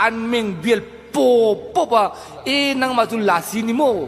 An meng bial pawp pawp a, Ee nangmah chu Lasi ni maw?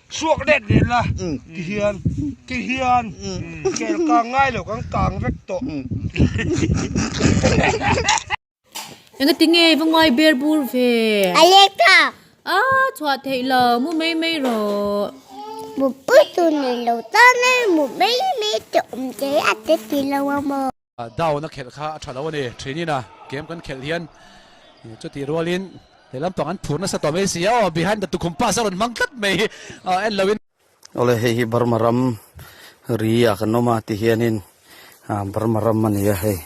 Suak let let la ti hian kei hian kel kang ngai lo kan kang vek tawh. Enga ti nge va ngai ber bur ve. A lek ta. A chhuah thei lo mu mai mai rawh. Mu pui tu nei lo ta nge mu mai mai te awm te a te ti lo a maw. Down a khelh kha a tha lo a ni. Thin in a game kan khelh hian chutih rual in lehlampan an phur nasa tawh mai si a. Aw behind the tukhum pass a rawn hmang tlat mai hi a en lo in. Awle hei hi Burma ram ri ah kan awm a ti hian in Burma ram a ni a hei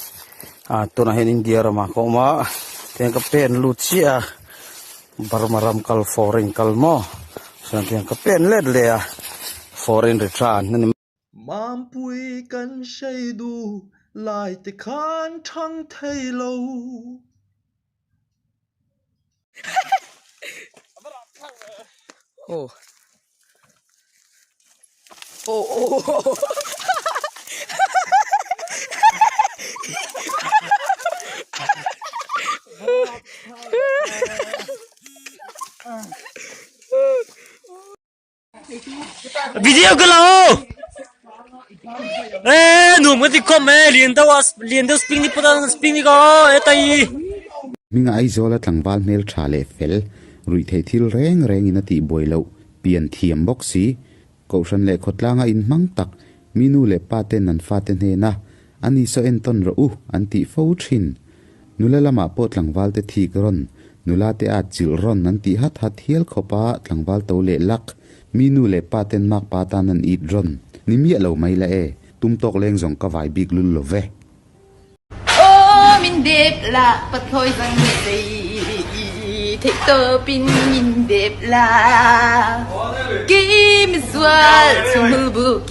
tunah hian India ram ah ka awm a ti hian ka pen lut chiah a Burma ram kal fawr a in kal maw tichuan ka pen let leh a fawr a in ri tlan a ni. Mampuii kan hrei duh lai te khan thang thei lo. video ka la ho e nu ma ti kom e lian da was lian da spring ni pura spring ni ko e tai minga ai zola tlangwal hmel tha le fel rui thei thil reng reng in ati buai lo pian thiam bawk si kohran le khawtlanga in hmang tak minu le pa ten an fa te hne na A ni saw en tawn rawh u an tih fo thin. Nula lamah pawh tlangval te thik rawn, nula te a chilh rawn an tih hat hat hial khawp a, tlangval to leh lak. Mi nu leh pa ten mak pa tan an it rawn ni miah lo mai la e, tum tawk leng zawng ka vai bik lul lo ve. Aw min dep la pathlawi zan nge tei theih tawp in min dep la kei mizual chhunghul bul keng.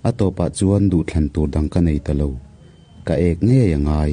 A tawpah chuan duhthlan tur dang ka nei ta lo. Ka ek ngei a ngai.